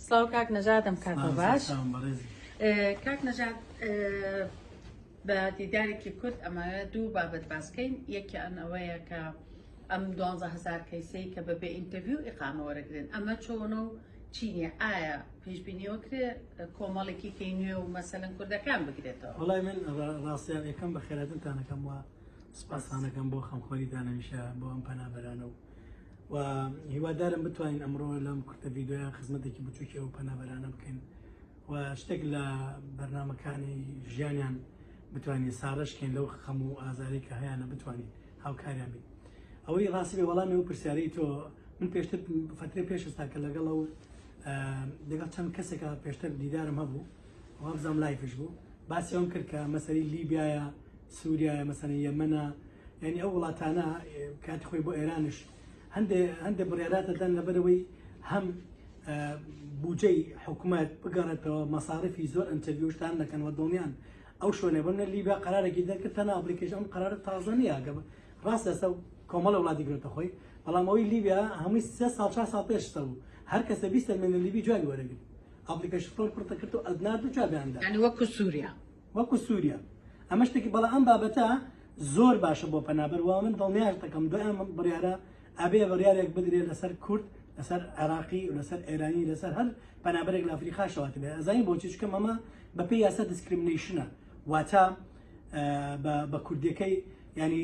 سڵاو کاک نەژادم کاتە باش کاک نەژاد بە دیدارێکی کورت ئەمانە دوو بابەت باسکەین یەکیان ئەوەیە کە ئەم دوهزار کەیسی کە بە بێ ئینتەویو و ئقامە وەرەگرن ئەمە چۆنە و چینە ئایا پێشببینیەوە کرێ کۆمەڵێکی کەی نوێ و مەسەن کوردەکان بگرێتەوە وڵای من ڕاستیان یەکەم بە خێراتنتانەکەم وە سپاسانەکەم بۆ خەمخۆری دانەمیشە بۆ ئەم پەنابەرانە و و هیوادارم بتوانین ئەمڕۆ لەم کورتە ڤیددیویان خزمەتێکی بچووکی ئەو پەنابەرانە بکەین و شتێک لە بەرنمەکانی ژیانیان بتوانین ساڕشکەین لەو خەم و ئازاری کە هەیەە بتوانین هاوکاریان بین ئەوەی ڕاستی وەڵامی و پرسیارەی تۆ من پێشتر فترە پێشستا کە لەگەڵ ئەو لەگەڵ چەند کەسێکە پێشتر دیدارم هەبوو وابزانام لایفش بوو باسیەوەم کرد کە مەسەری لیبیایە سوریایە مەسەنە یەمەنە یعنی ئەو وڵاتانە کاتی خۆی بۆ ئێرانش هەندێ هەندێ بڕێراتەدان لەبەرەوەی هەم بودجەی حکوومەت بگەڕێتەوە مەساارفی زۆر ئەنتەویشتان دەکەن وە دڵنیان ئەو شوێنە بنە لیبا قرارێکی دەکرد تەنا ئەپلیکیش ئەم قرارە تازە نیە گە ڕاست ئێستا کۆمەڵە وڵاتی گرێتە خۆی بەڵام ئەوی لیبیا هەمووی سێ ساڵ چا ساڵ پێشتە بوو هەر کەسە بیستە مێنە لیبی جوابی وەرەگرت ئەپلیکیش فۆر پڕتە کرد و ئەدنات و جوابیاندا ینی وەکو سووریا وەکو سووریا ئەمە شتێکی بەڵا ئەم بابەتە زۆر باشە بۆ پەنابەر وا من دڵنیاش دەکەم دوای ئەم بڕیارە ئەبێ بڕیارێک بدرێت لەسەر کورد لەسەر عێراقی و لەسەر ئێرانی لەسەر هەر پەنابەرێک لە ئەفریقا شەوات بێ ئەزانی بۆچی چکە مەمە بە پێی یاسا دیسکرمنیشنە واتا بە کوردەکەی ینی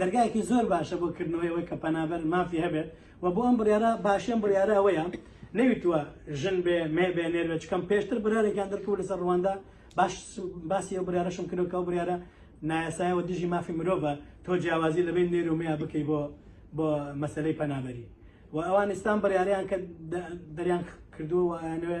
دەرگایەکی زۆر باشە بۆ کردنەوەی ئەوەی کە پەنابەر مافی هەبێت و بۆ ئەم بڕیارە باشیان بڕیارە ئەوەیە نەویتوە ژن بێ مێ بێ نێر بێت چکەم پێشتر برارێکیان دەرکەوت لەسەر ڕواندا باش باسی ئەو بریارەشم کردو کە ئەو بریارە نایاسایەوە دژی مافی مرۆڤە تۆ جیاوازی لە بین نێر و مێیا بکەی بۆ بۆ مەسلەی پەنابەری و ئەوان ئێستان بڕیاریان کە دەریان کردووە و ئەیانوێ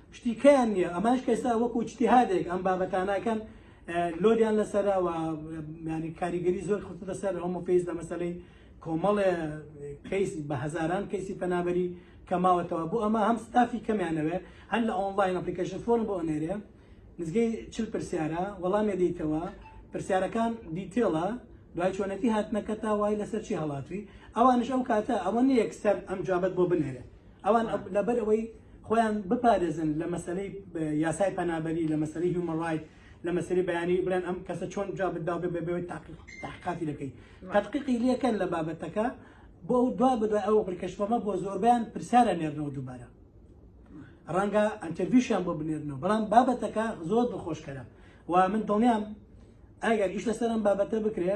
شتی کەیان نییە ئەماش کەسا وەکو چتیهادێک ئەم بابەتاناکەن لۆریان لەسەرا و ینی کاریگەری زۆر خستە لەسەر هەمە پێیز لە مەسلەی کۆمەڵێ کەیس بە هزاران کەیسی پەنابەری کەماوەتەوە بۆ ئەمە هەم ستافی کەمیانەوێ هەر لە ئۆنلاین ئەپلیکیشن فۆن بۆ ئەنێرێ نزگەی چل پرسیارە وەڵامێ دیتەوە پرسیارەکان دیتێڵە دوای چۆنەتی هاتنەکە تا وای لەسەر چی هەڵاتوی ئەوانش ئەو کاتە ئەوە نیەک سەر ئەم جابەت بۆ بنێرێ ئەوان لەبەر ئەوەی خۆیان بپارێزن لە مەسلەی یاسای پەنابەری لە مەسلەی هیومە ڕایت لە مەسری بەیانی بڵێن ئەم کەسە چۆن جا بداو بێ بەوەی تاقیقاتی دەکەی تەقیقی لەکەن لە بابەتەکە بۆ دوا بدە ئەو بڕکەشتەمە بۆ زۆربیان پرسیارە نێرنەوە دووبارە ڕەنگە ئەتەویشیان بۆ بنێرنەوە بەڵام بابەتەکە زۆر دڵخۆشکەرە و من دڵنیام ئەگەر ئیش لەسەرم بابەتە بکرێ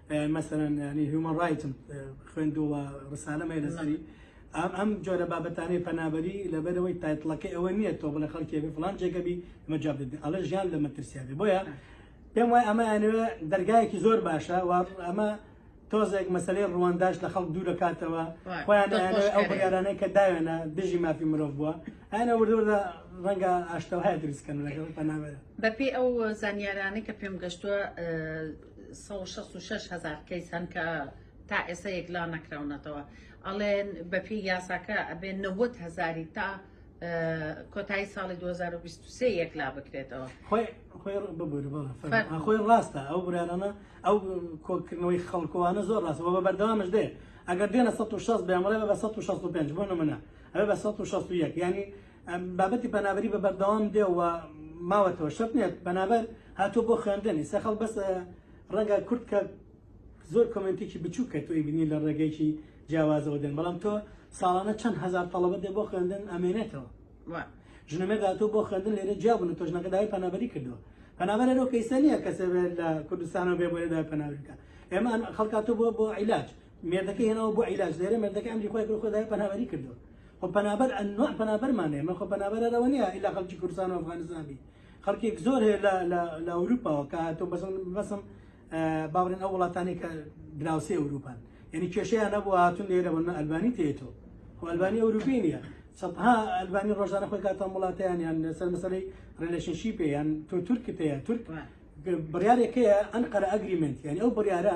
مەسەرەن ینی هیومەن ڕایتم خوێندووە ڕسالەمە لەسەری ئەم ئەم جۆرە بابەتانەی پەنابەری لەبەرەوەی تایتڵەکەی ئەوە نییە تۆ بڵە خەڵکی بێ فلان جێگەبی مەجاب دەبێت ئەڵە ژیان لە مەترسیابێ بۆیە پێم وای ئەمە ئەنوێ دەرگایەکی زۆر باشە وا ئەمە تۆزێک مەسلەی ڕوەنداش لە خەڵک دوور دەکاتەوە خۆیان ئەو بڕارانەی کە داوێنە دژی مافی مرۆڤ بووە ئەە وردوردە ڕەنگە ئاشتەوە هەیە دروستکەن لەگەڵ پەناوێت بەپی ئەو زانیارانەی کە پێم گەشتووە سەد و شەست و شەش هەزار کەیس هەن کە تا ئێستا یەکلا نەکراونەتەوە ئەڵێن بەپی یاساکە ئەبێ نەوەت هەزاری تا کۆتایی ساڵی 2023 یەکلا بکرێتەوە خۆی ڕاستە ئەو برانانە ئەو کۆکردنەوەی خەڵکوانە زۆر ڕاستە بە بەردەوامش دێ ئەگەر دێنە 1600 بێمەڵێ بە 1665 بۆ نمونە ئەوێ بە 1661 ینی بابەتی پەنابەری بە بەردەوام دێ و ماوەتەوە شەت نێت پەنابەر هاتۆ بۆ خوێندنی سەخەڵ بەس ڕەنگە کورت کە زۆر کمنتێکی بچوو کە تۆی بینی لە ڕێگەیەکی جیاوازەوە دێن بەڵام تۆ ساڵانە چەند هزار تەڵەبە دێ بۆ خوێندن ئەمێنێتەوە ژنەمە داتۆ بۆ خوێندن لێرە جیابوون و تۆژنەکە داوای پەنابەری کردووە پەنابەر ئەرۆ کەیسە نییە کەسێ لە کوردستانەوە بێ بۆێ دای پەناویکە ئێمە خەڵکاتۆ بۆ بۆ عیلاج مێردەکەی هێناوە بۆ عیلاج لێرە مێردەکە ئەمری خۆی کرد خۆی دای پەنابەری کردو خۆ پەنابەر ئەنوا پەنابەرمانێ من خۆ پەنابەر ئەرەوە نییە ئیلا خەڵکی کوردستان و ئەفغانستان بی خەڵکێک زۆر هەیە لە لە لە ئەوروپاوە کە هاتۆ بەسم بەسم باوڕێن ئەو وڵاتانی کە دراوسی ئەوروپان یعنی کێشەیان نەبوو هاتون لێرە بۆ من ئەلبانی تێتۆ خۆ ئەلبانی ئەوروپی نییە سەدها ئەلبانی ڕۆژانە خۆی کاتان وڵاتیان یان سەر مەسەرەی ڕێلشنشیپێ یان تۆ تورکت هەیە تورک بڕارێکەیە ئەنقەرە ئەگریمنت یعنی ئەو بڕارە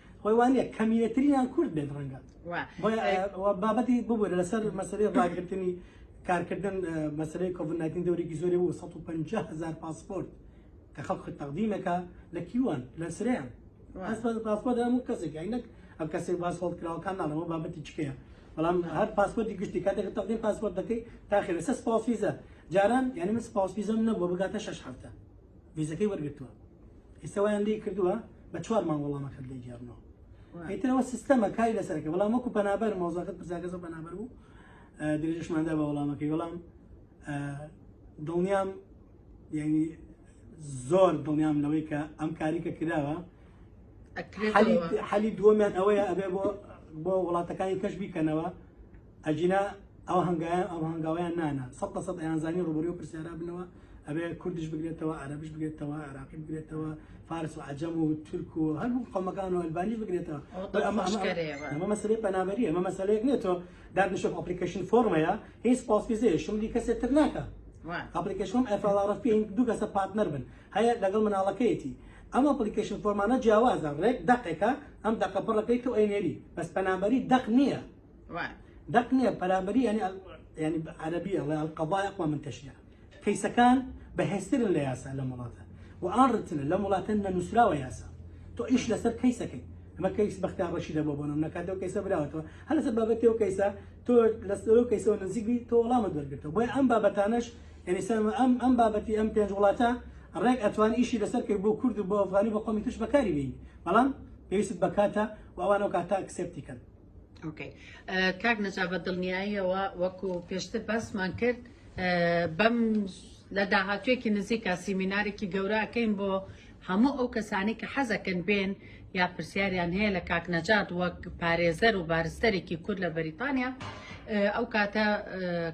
خۆی وانە کەمیەتریان کورد بێت ڕەنگە بابەتی ببوورە لەسەر مەسەری ڕاگرتنی کارکردن مەسەری کۆڤناتین دەورێکی زۆری بوو 150 هزار پاسپۆرت کە خەڵک تەقدیمەکە لە کیوان لە سریان پاسپۆرت هەموو کەسێک ئەینەک ئەم کەسێک باس هەڵ کراوەکان ناڵەوە بابەتی چکەیە بەڵام هەر پاسپۆرتی گشتی کاتێک تەقدیم پاسپۆرت دەکەی تاخێ لەسەر سپاس فیزە جاران یعنی من سپاس فیزم نەبوو بگاتە شش هەفتە ڤیزەکەی وەرگرتووە ئێستا وایان لێ کردووە بە چوار مانگ وەڵامەکەت لێ گێڕنەوە ئیترەوە سیستەمە کاری لەسەرەکە بەڵام وەکو پەنابەر مۆزەکەت پرسیاکە زۆر پەنابەر بوو درێژشماندا بە وەڵامەکەی وەڵام دڵنیام یعنی زۆر دڵنیام لەوەی کە ئەم کاری کە کراوە حەلی دووەمیان ئەوەیە ئەبێ بۆ بۆ وڵاتەکانی کەش بیکەنەوە ئەگینا ئەو هەنگایان ئەو هەنگاویان نانان سەد لە سەد ئەیانزانی ڕوبەروی پرسیارا بنەوە ئەبێ کوردش بگرێتەوە عەرەبش بگرێتەوە عراقی بگرێتەوە فارس و عجەم و تورک و هەموو قەمەکان و ئەلبانیش بگرێتەوە ئەمە مەسلەی پەنابەری ئەمە مەسلەیەک نیە تۆ دادنیشە ئەپلیکیشن فۆرمەیە هیچ پاسپیزەیە شملی کەسێک تر ناکە ئەپلیکیشن ئەفڵارف پێ دوو کەسە پارتنەر بن هەیە لەگەڵ مناڵەکەیەتی ئەم ئەپلیکیشن فۆرمانە جیاوازە ڕێک دەقێکە ئەم دەقە پڕەکەی تۆ ئەینێری بەس پەنابەری دەق نییە دەق نییە پەرامبەری ینی ینی عەربی ئەڵێ ئەلقەبای ئەقوا من تەشریع کەیسەکان بەهێزترن لە یاسا لەم وڵاتە و ئاڕتن لەم وڵاتە نەنووسراوە یاسا تۆ ئیش لەسەر کەیسەکەی ئەمە کەیس بەختیار ڕەشی دەبۆ بۆ نم نەکات و کەیسە براوەتەوە هەر لەسەر بابەتی و کەیسە تۆ لەسەر و کەیسەوە نزیکبی تۆ وەڵامە دەرگرتەوە بۆی ئەم بابەتانەش یعنی سەر ئەم ئەم بابەتی ئەم پێنج وڵاتە ڕێک ئەتوان ئیشی لەسەر کرد بۆ کورد و بۆ ئەفغانی بۆ قومی ترش بەکاری بین بەڵام پێویست بەکاتە و ئەوانەوە کاتا کسێپتیکەن ئۆکەی کاک نەجا بە دڵنیاییەوە وەکو پێشتر باسمان کرد بەم لە داهاتوێکی نزیکە سیمینارێکی گەوراکەین بۆ هەموو ئەو کەسانی کە حەزەکەن بێن یا پرسیاریان هەیە لە کاک نەجات وەک پارێزەر و بارستەرێکی کورد لە بەریتانیا ئەو کاتە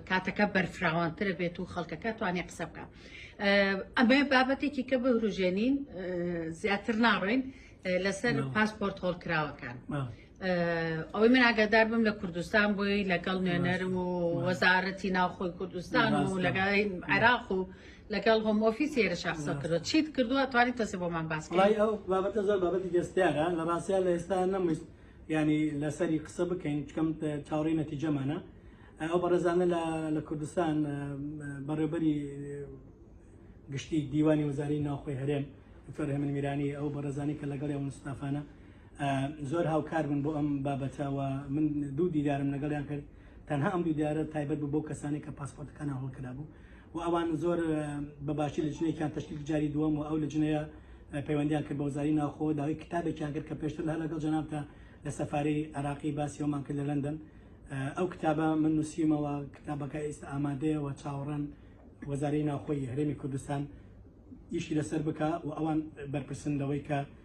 کاتەکە بەرفراوانترە بێت و خەڵکەکە توانێ قسە بکە ئەمە بابەتێکی کە بهروژێنین زیاتر ناڕۆین لەسەر پاسپۆرت هۆڵکراوەکان ئەوەی من ئاگادار بم لە کوردستان بۆی لەگەڵ نوێنەرم و وەزارەتی ناوخۆی کوردستان و لەگەڵ عێراق و لەگەڵ هۆم ئۆفیس هێرە شخصە کردو چیت کردووە توانی تەسێ بۆمان باس وڵی ئەو بابەتە زۆر بابەتی دەستیارە لە ڕاستە لە ئێستا نەمویست ینی لەسەری قسە بکەین چکەم چاوەڕی نەتیجەمانە ئەو بەڕێزانە لە کوردستان بەڕێبەری گشتی دیوانی وەزاری ناوخۆی هەرێم دکتۆر هێمن میرانی ئەو بەڕێزانی کە لەگەڵ ئەو مستافانە زۆر هاوکار بوون بۆ ئەم بابەتە و من دوو دیدارم لەگەڵیان کرد تەنها ئەم دوو دیارە تایبەت بوو بۆ کەسانی کە پاسپۆرتەکانە هەڵکرابوو و ئەوان زۆر بەباشی لە جنێکیان تشکیل جاری دووەم و ئەو لە جنەیە پەیوەندیان کرد بە وزاری ناوخۆ داوای کتابێکیان کرد کە پێشتر هەر لەگەڵ جەنابتە لە سەفارەی عراقی باسی ئەومان کرد لە لەندەن ئەو کتابە من نووسیمەوە کتابەکە ئێستا ئامادەیەوە چاوەڕان وەزاری ناوخۆی هەرێمی کوردستان ئیشی لەسەر بکە و ئەوان بەرپرسن لەوەی کە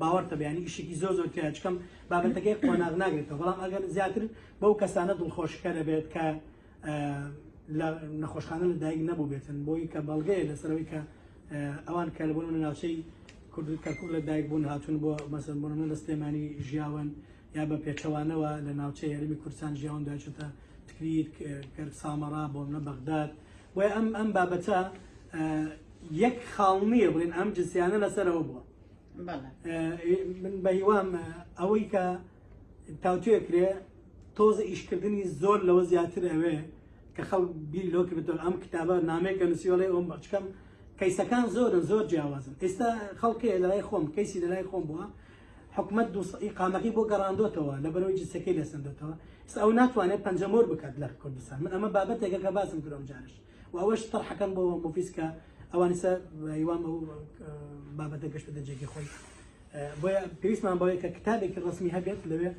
باوەڕتە بەیانی ئیشێکی زۆر زۆر تیایە چکەم بابەتەکەی قۆناغ ناگرێتەوە بەڵام ئەگەر زیاتر بەو کەسانە دڵخۆشکە دەبێت کە لە نەخۆشخانە لە دایک نەبوو بێتن بۆی کە بەڵگەیە لەسەرەوەی کە ئەوان کە لەبوون لە ناوچەی کورد کەرکک لە دایک بوون هاتون بۆ مەسن بۆ منە لە سلێمانی ژیاون یا بە پێچەوانەوە لە ناوچەی هەرمی کوردستان ژیاون داچێتە تکریت کەر سامەڕا بۆ منە بەغداد بۆی ئەم ئەم بابەتە یەک خاڵ نییە بڵێن ئەم جسیانە لەسەرەوە بووە من بە هیوام ئەوەی کە تاوتێ کرێ تۆزە ئیشکردنی زۆر لەوە زیاتر ئەوێ کە خەڵ بیر لۆ کردن ئەم کتابە نامێکە نووسیۆڵی ئەوم بەچکەم کەیسەکان زۆرن زۆر جیاوازن ئێستا خەڵکێ لەلای خۆم کەیسی لەلای خۆم بووە حکومت دوقامەکەی بۆ گەڕاندۆتەوە لە بەرەوەی جسەکەی لەسەندێتەوە ئێستا ئەو ناتوانێت پەنجەمۆر بکات لە کوردستان من ئەمە بابەتێکە کە باسم کرۆم جارش و ئەوەش تەرحەکەم بۆ مۆفیس کە ئەوانیسە هیوام ئەو بابەتە گەشتە دەجێکی خۆی بۆیە پێویستمان بەوەیە کە کتابێکی ڕسمی هەبێت لەوێ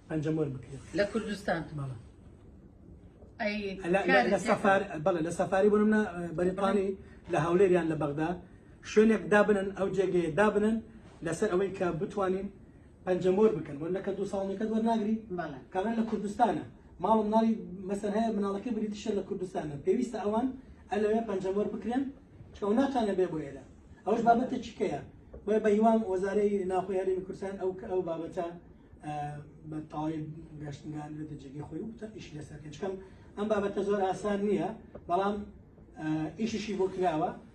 پەنجەم وەر بکرێت لە کوردستان بەڵە لە سەفار بەڵێ لە سەفاری بۆ منە بەریتانی لە هەولێریان لە بەغدا شوێنێک دابنن ئەو جێگەیە دابنن لەسەر ئەوەی کە بتوانین پەنجەمۆر بکەن بۆ نەکە دوو ساڵ نەکەت وەرناگری کابرا لە کوردستانە ماڵ و مناڵی مەسەن هەیە مناڵەکەی بریتیشە لە کوردستانە پێویستە ئەوان ئەلەوێ پەنجەمۆر بکرێن چکە و ناتوانێت بێ بۆ ئێرە ئەوش بابەتێکی کەیە بۆیە بە هیوام وەزارەی ناخۆی هەرێمی کوردستان ئەو کە ئەو بابەتە بە تەواوی گەشتنگان بێتە جێگەی خۆی و ئیش لەسەر کەچکەم ئەم بابەتە زۆر ئاسان نییە بەڵام ئیشیشی بۆ کراوە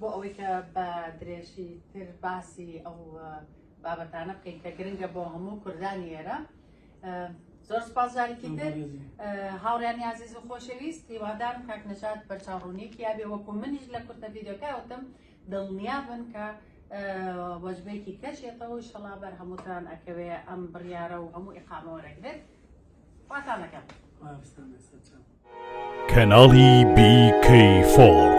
بۆ ئەوەی کە بە درێژی تر باسی ئەو بابەتانە بکەین کە گرنگە بۆ هەموو کوردانی ئێرە زۆر سپاس جارێکی تر هاوڕیانی عزیز و خۆشەویست هیوادارم کاک نەجات بەرچاوڕوونیەکی یابێ وەکو منیش لە کورتە ڤیددیوکەوتم دڵنیا بن کە وەجبێکی کەشێتەوە شەڵا بەر هەمووتان ئەکەوێ ئەم بڕیارە و هەموو ئقامەوە رەگرێت واتانەکەم. کەناڵی BK فۆڕ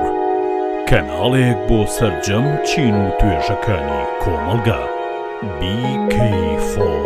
کەناڵێک بۆ سەرجەم چین و توێژەکانی کۆمەڵگا BK فۆڕ.